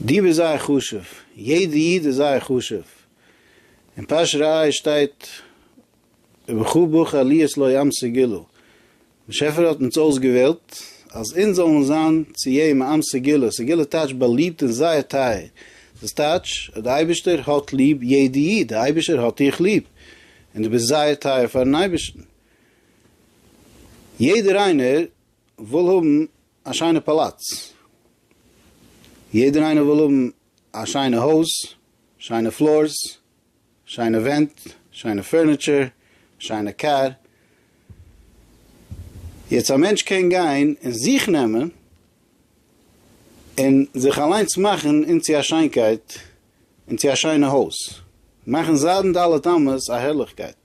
דיב איז זייער חשוב, יעדע איד איז זייער חשוב, אין פרשת ראה שטייט ובכו בכה עליות לא ימסי גילו, באשעפער האט אונז אויסגעוועלט אז אונז זאלן זיין צו איהם אמסי גילו, סגילו טייטש באליבט און זייער טייער, דאס טייטש אז די אייבערשטער האט ליב יעדע איד, די אייבערשער האט דיך ליב, און דו ביסט זייער טייער פארן אייבערשטן, יעדער איינער וויל האבן א שיינע פאלאץ, יעדער איינער וויל האבן א שיינע הויז, שיינע פלארס, שיינע ווענט, שיינע פערניטשער, שיינע קאר, יעצט א מענטש קען גיין און זיך נעמען און זיך אליינס מאכן אינצו א שיינקייט און צו א שיינע הויז, מאכן זיידן ד' אמות א הערליכקייט.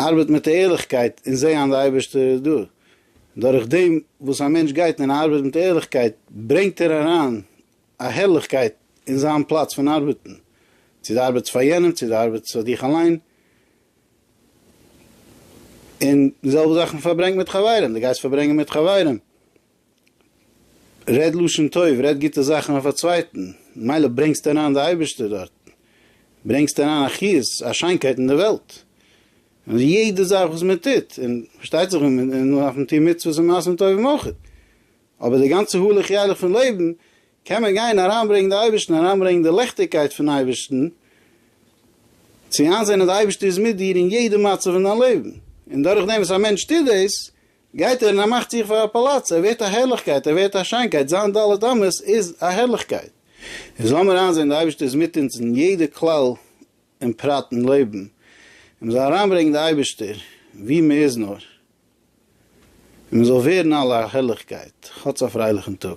ארבעט מיט ערליכקייט און זעה אן די אייבערשטער איז דא. דורך דעם וואס א מענטש גייט און ארבעט מיט ערליכקייט ברענגט ער אריין א הערליכקייט אין זיין פלאץ פון ארבעטן, צו די ארבעטס פאר יענעם צו די ארבעטס פאר דיך אליין, און די זעלבע זאך מ'פארברענגט מיט חברים, די גייסט פארברענגען מיט חברים רעד לשון טוב, רעד גוטע זאכן אויף א צווייטן, מילא ברענגסט אריין די אייבערשטער דארט, ברענגסט אריין א חיות, א שיינקייט אין די וועלט, און יעדע זאך וואס מען טוט, און פארשטייט זיך און מען דארף און טוהן מצוות און מעשים טובים אויך, אבער די גאנצע הלוך ילך פון לעבן קען מען גיין אריינברענגן די אייבערשטן, אריינברענגן די לעכטיגקייט פון אייבערשטן, צו איינזעהן אז די אייבערשטער איז מיט דיר אין יעדע מצב אין דיין לעבן, און דורכדעם וואס א מענטש טוט דאס, גייט ער און ער מאכט זיך פאר א פאלאץ, ער ווערט א הערליכקייט, ער ווערט א שיינקייט, זיין ד' אמות איז א הערליכקייט. אונז לאמיר איינזען די אייבערשטער איז מיט אונז אין יעדע כלל און פרט אין לעבן, און מ'זאל אריינברענגן די אייבערשטער ווי מ'איז נאר, און מ'זאל ווערן אלע א הערליכקייט, כאטס א פרייליכן טאג.